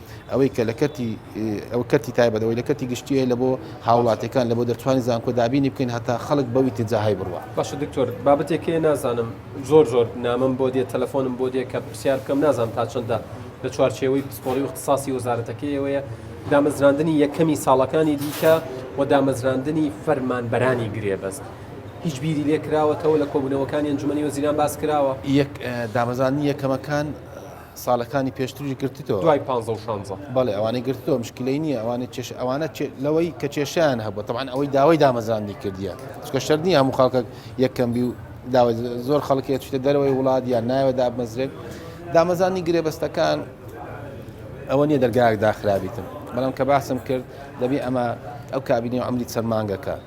ئەوەی کە لە کەرتی ئەوە کەرتی تایبەت ئەوەی لە کەرتی گشتی هەیە لە بۆ هاوڵاتیەکان لە بۆ دەرچوانی زانکۆ دابینی بکەین هەتا خەڵک بەو ئیتجا هەی بڕوا. باشە دکتۆر بابەتێک هەیە نازانم زۆر زۆر نامەم بۆ دێت تەلەفۆنم بۆ دێت کە پرسیار بکەم نازانم تا چەندە لە چوارچێوەی پسپۆڕی و اختصاصی وەزارەتەکەی ئێوەیە دامەزراندنی یەکەمی ساڵەکانی دیکە و دامەزراندنی فەرمانبەرانی گرێبەست هیچ بیری لێ کراوەتەوە لە کۆبوونەوەکانی ئەنجومەنی وەزیران باس کراوە؟ یەک دامەزراندنی یەکەمەکان سالەکانی پێشتریش گرتتەوە دوای پانزە و شانزە بەڵێ ئەوانەی گرتتەوە مشکلەی نییە ئەوانە چێش ئەوانە لەوەی کە کێشیان هەبوو تەوان ئەوەی داوای دامەزراندی کردیە چکە شەر نیە هەموو خەڵکە یەکەم بی و داوای زۆر خەڵکی ئەچیتە دەرەوەی وڵات یان ناوە دابمەزرێت دامەزانی گرێبەستەکان ئەوە نیە دەرگایەک داخرابیتن بەڵام کە باسم کرد دەبی ئەمە ئەو کابینی و ئەمری چەند مانگەکە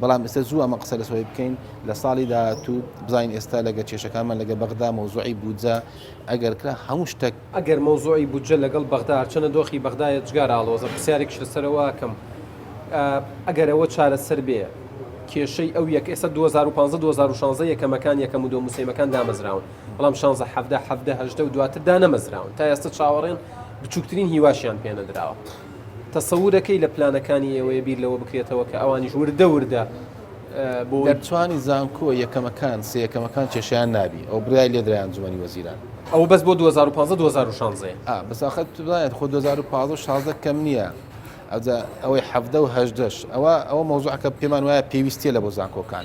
بەڵام ئێستا زوو ئەمە قسە لەسەوەی بکەین لە ساڵی داهاتوو بزانین ئێستا لەگە کێشەکانمان لەگە بەغدا مەوزوعی بودجە ئەگەر کرا هەموو شتەک ئەگەر مەوزوعی بودجە لەگەڵ بەغدا هەرچەنە دۆخی بەغدا یەجگار ئاڵۆزە پرسیارێکش لەسەرەوە ئەکەم ئەگەر ئەوە چارەسەر بێ کێشەی ئەو یەک ئێستا 2015 2016 یەکەمەکان یەکەم و دۆمو سێمەکان دامەزراون بەڵام 16 17 17 هەژدە و دواتر دانەمەزراون تا ئێستا چاوەڕێن بچووکترین هیواشیان پێ نەدراوە. تەسەورەکەی لە پلانەکانی ئێوەیە بیر لەوە بکرێتەوە کە ئەوانیش وردە وردە بۆ دەرچوانی زانکۆ یەکەمەکان سێ یەکەمەکان کێشیان نابی ئەو برای لێدرای ئەنجومەنی وەزیران ئەو بەس بۆ 2015 2016 ئا بەس ئاخر تو بزانێت خۆ 2015 16 کەم نییە ئەوجا ئەوەی حەفدە و هەژدەش ئەوە ئەوە مەوزوعەکە پێمان وایە پێویستیە لە بۆ زانکۆکان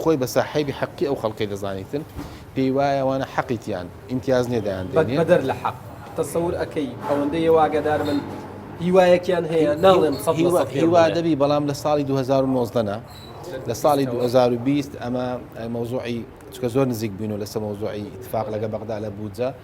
خۆی بە ساحێبی حەقی ئەو خەڵکەی دەزانی تر پێی وایە ئەوانە حەقی تیان ئیمتیاز نیە دایان بە دێنێ بەدەر لە حەق تەسەور ئەکەی ئەوەندەی ئەوە ئاگادار بن هیوایەکیان هەیە ناڵێم سەد لە هیوا سەد پێم هیوا بڵێ. دەبی بەڵام لە ساڵی 2019 نا لە ساڵی 2020 ئەمە مەوزوعی چکە زۆر نزیک بووینەوە لەسەر مەوزوعی اتفاق لەگە بەغدا لە بودجە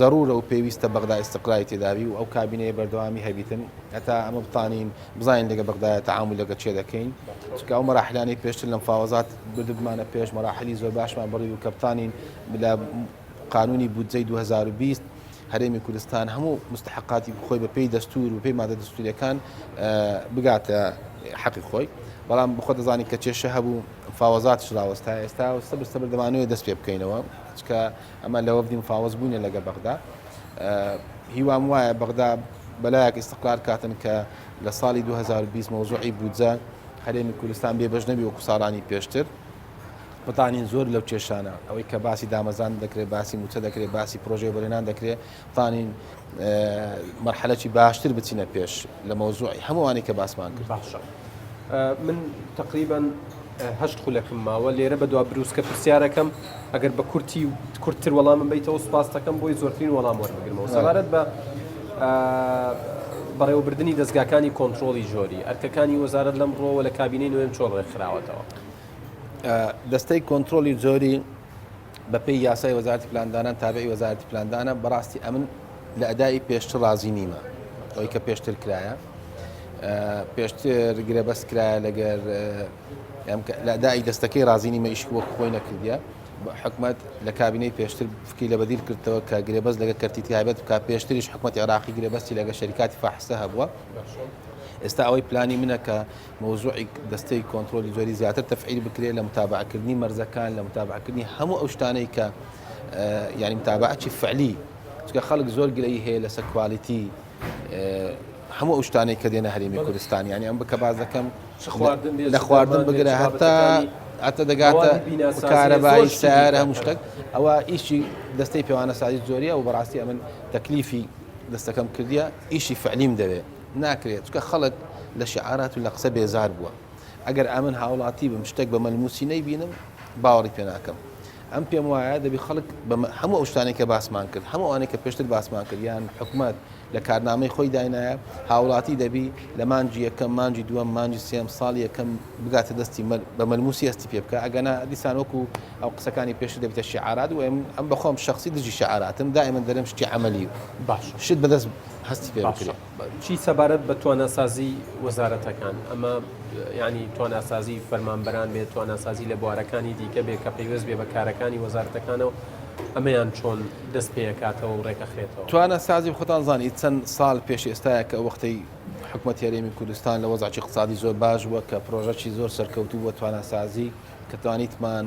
زەرورە و پێویستە بەغدا ئیستقراری تێدابی و ئەو کابینەیە بەردەوامی هەبیتن هەتا ئەمە بتانین بزانین لەگە بەغدایە تەعامول لەگە چێ دەکەین چکە ئەو مەراحلانەی پێشتر لەم فاوەزات بردبمانە پێش مەراحلی زۆر باشمان بڕی و کەبتانین بلا قانونی بودجەی 2020 هەرێمی کوردستان هەموو مستحقاتی خۆی بە پێی دەستور و پێی مادە دەستوریەکان بگاتە حەقی خۆی بەڵام بخۆ دەزانین کە کێشە هەبوو فاوەزات شراوەستا ئێستا سەبر سەبر دەمانوێت دەست پێ بکەینەوە چکە ئەمە لە وەفدی مفاوەز بووینە لەگە بەغدا هیوام وایە بەغدا بەلایەک ئیسقلار کاتن کە لە ساڵی 2020 مەوزوعی بودجە هەرێمی کوردستان بێ بەش نەبی وەکو ساڵانی پێشتر بتانین زۆر لەو کێشانە ئەوەی کە باسی دامەزان دەکرێت باسی موچە دەکرێت باسی پرۆژێ بەرێنان دەکرێت توانین مەرحەلەکی باشتر بچینە پێش لە مەوزوعی هەمووانی کە باسمان کرد باشە من تقریبان هەشت خولەکم ماوە لێرە بە دوا بروسکە پرسیارەکەم ئەگەر بە کورتی کورتتر وەڵامم بیتەوە سپاستەکەم بۆی زۆرترین وەڵام وەرمەگرمەوە سەبارەت بە بەڕێوەبردننی دەستگاکانی کۆنتترۆلی ژۆری ئەرکەکانی وەزارت لەم ڕۆوە لە کابینەی نوێن چۆن ڕێکخراوەتەوە دەستەی کۆنتترۆلی جۆری بە پێی یاسای وەزارەتی پلاندانان تابعی وەزارەتی پلاندانە بەڕاستی ئەمن لە ئەدای پێشتر ڕازی نیمە ئەوی کە پێشتر کرایە پێشتر گرە بەس کرایە لەگەر لە ئەدای دەستەکەی ڕازی نیمە ئیشک وەک خۆی نەکردە حکومت لە کابینەی پێشتر فکری لە بەدیل کردەوە کە گرێبەست لەگە کەرتی تایبەت بکە پێشتریش حکومت عراقی گرێبەستی لەگە شەریکاتی فاحسە هەبووە ئێستا ئەوەی پلانی منە کە مەوزوعی دەستەی کۆنترۆلی جۆری زیاتر تەفعیل بکرێت لە متابعەکردنی مەرزەکان لە متابعەکردنی هەموو ئەو شتانەی کە یعنی متابعەکی فعلی چکە خەڵک زۆر گرەی هەیە لەسەر کوالیتی هەموو ئەو شتانەی کە دێنە هەرێمی کوردستان ینی ئەم بکە باز دەکەم لە خواردن بگرە هەتا ئەتە دەگاتە کارەبایی سیارە هەموو شتێک ئەوە ئیشی دەستەی پێوانە سازی زۆریە و بەڕاستی ئەمن تەکلیفی دەستەکەم کردیە ئیشی فعلیم دەوێت ناکرێت چونکە خەڵک لە شیعارات و لە قسە بێزار بووە ئەگەر ئەمن هاوڵاتی بم شتێک بە مەلموسی نەیبینم باوەڕی پێ ناکەم ئەم پێم وایە دەبی خەڵک هەموو ئەو شتانی کە باسمان کرد هەموو ئەوانەی کە پێشتر باسمان کرد یان حکومت لە کارنامەی خۆی داینایە هاوڵاتی دەبی لە مانجی یەکەم مانجی دووەم مانجی سێم ساڵ یەکەم بگاتە دەستی بە مەلموسی هەستی پێ بکە ئەگەنا دیسان وەکو ئەو قسەکانی پێشتر دەبێتە شیعارات و ئەم بەخۆم شخصی دژی شیعاراتم دائما دەرم شتی عملی باش شت بەدەست هەستی پێ بکرێ. چی سەبارەت بە تواناسازی وەزارەتەکان ئەمە ینی تواناسازی فەرمانبەران بێت تواناسازی لە بوارەکانی دیکە بێت کە پەیوەست بێ بە کارەکانی وەزارەتەکانەوە ئەمەیان چۆن دەست پێکاتەوە و ڕێکەخرێتەوە توانە سازی خۆتان زانانی چەند سال پێش ئێستاە کە وەختەی حکومەت یاریێمی کوردستان لە وەزاچی قسادی زۆر باش بووە کە پرۆژەی زۆر سەرکەوتوو بە توانەسازی کە توانیتمان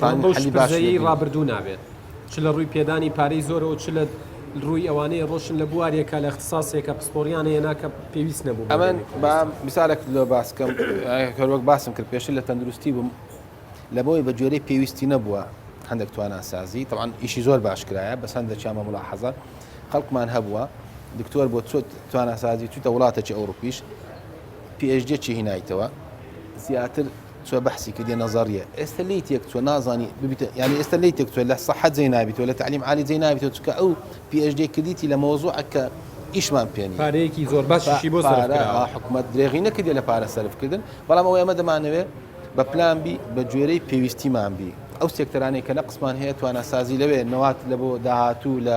ئەمە بەو شپرزەیەی ڕابردوو نابێت، چ لە ڕووی پێدانی پارەی زۆرەوە و چ لە ڕووی ئەوانەی ئەڕۆشن لە بوارێکە، لە اختساسێکە پسپۆڕیان هێنا کە پێویست نەبوو بۆ ئەمن. با میسالێک لۆ باس بکەم، هەر وەک باسم کرد پێشتر لە تەندروستی بووم، لەبەوەی بە گوێرەی پێویستی نەبووە هەندێک تواناسازی، تەبعەن ئیشی زۆر باش کرایە، بەس هەندێکیان بە مولاحەزە خەڵکمان هەبووە، دکتۆر بۆ چۆت تواناسازی چوویتە وڵاتێکی ئەوروپیش، پی ئێچ دییەکی هینایتەوە، زیاتر چۆ بەحسی کردیە نەزەڕیە ئێستە لێی تێک چۆ نازانی ببیتە یعنی ئێستە لێی تێک چۆ لە سەحە جێ نابیتەوە لە تعلیم عالی جێ نابیتەوە چکە ئەو PHD کردیتی لە مەوزوعە کە ئیشمان پێ نیە پارەیەکی زۆر باشیشی بۆ سەرف پارە کراوە حکومەت درێغی نەکردیە لە پارە سەرفکردن بەڵام ئەوەی ئەمە دەمانەوێ بە پلان بی بە گوێرەی پێویستیمان بی ئەو سێکتەرانەی کە نەقسمان هەیە تواناسازی لەوێ نەوات لە بۆ داهاتوو لە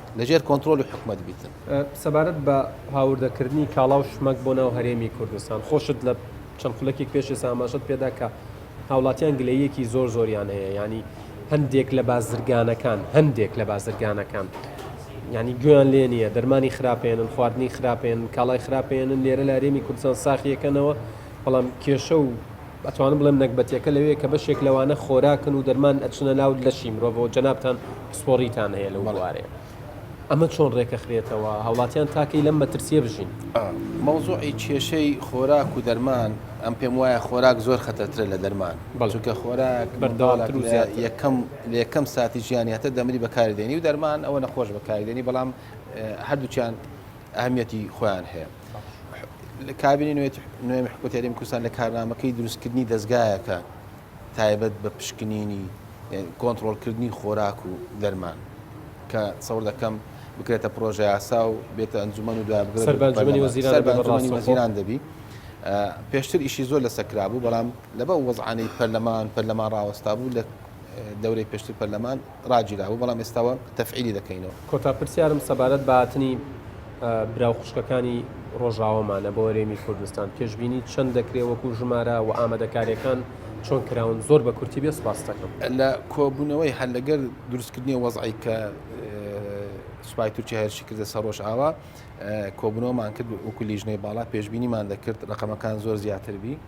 لەژێر کۆنترۆلی حکومەت بیتن. سەبارەت بە هاوردەکردنی کاڵا و شمەک بۆ ناو هەرێمی کوردستان، خۆشت لە چەند خولەکێک پێش ئێستا ئاماژەت پێدا کە هاوڵاتیان گلەییەکی زۆر زۆریان هەیە یانی هەندێک لە بازرگانەکان هەندێک لە بازرگانەکان ینی گوێیان لێ نییە دەرمانی خراپێنن خواردنی خراپێن کاڵای خراپێنن لێرە لە هەرێمی کوردستان ساخیەکەنەوە بەڵام کێشە و ئەتوانم بڵێم نەگبەتیەکە لەوێیە کە بەشێک لەوانە خۆراکن و دەرمان ئەچنە ناو لەشی مرۆڤەوە جەنابتان پسپۆڕیتان هەیە لەو بوارەیە ئەمە چۆن ڕێکەخرێتەوە هاوڵاتیان تاکەی لەم مەترسیە بژین مەوزوعی کێشەی خۆراک و دەرمان ئەم پێم وایە خۆراک زۆر خەتەترە لە دەرمان بەڵچکە خۆراک بەردەواڵات یەکەم لە یەکەم ساتی ژیانیاتە دەمری بەکاردێنی و دەرمان ئەوە نەخۆش بەکاردێنی بەڵام هەردووچیان ئەهمیەتی خۆیان هەیە لە کابینی نوێت نوێمی حکوت یاریمی کوردستان لە کارنامەکەی دروستکردنی دەستگایەکە تایبەت بە پشکنینی کۆنتترۆلکردنی خۆراک و دەرمان کە سەور دەکەم بکرێتە پرۆژه یاسا و بێتە ئەنجومەن و دوابگرێتیران دەبی پێشتر ئیشی زۆر لە سەکرابوو بەڵام لەبە وەزعانەی پەرلەمان پەرلەمان ڕاوەستا بوو لە دەورەی پێشتر پەرلەمان ڕاگیرابوو بەڵام ئێستاوە تەفعیلی دەکەینەوە. کۆتا پرسیارم سەبارەت بە هاتنی برا و خوشکەکانی ڕۆژاوامانە بۆ هەرێمی کوردستان پێشبینی چەند دەکرێ وەکو ژمارە و ئامادەکاریەکان چۆن کراون زۆر بە کورتی بێ سپاستەکەم. لە کۆبوونەوەی هەر لەگەر دروستکردنی وەزعی کە سوپای تورکیا هێرشی کردە سەر ڕۆژئاوا کۆبوونەوەمان کرد وەکو لیژنەی باڵا پێشبینیمان دەکرد ڕقەمەکان زۆر زیاتر بی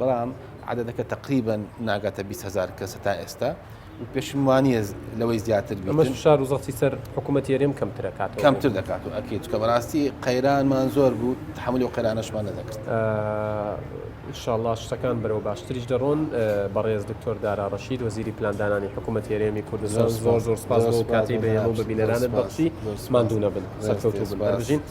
بەڵام عددەکە تقریبن ناگاتە 20 هزار کەس تا ئێستا پێشم وانە لەوەی زیاتر شار و زەختی سەر حکوومەت یێرم کەمترەکات کەمتر دەکات و ئەکیت کە بەڕاستی قەیرانمان زۆر بوو تحملی و قەیرانەشمان نەدەکرد انشاءله شتەکان بەرەوە باشتریش دەڕۆن بەڕێز دکتۆر دارا ڕشید وەزیری پلاندانانی حکوومەت هێرێمی کوردستان زۆر زۆر سپاس کاتی بە بە بینەرانت بەخشی مادوو نەبن سەرکەوتوبن بەرژین.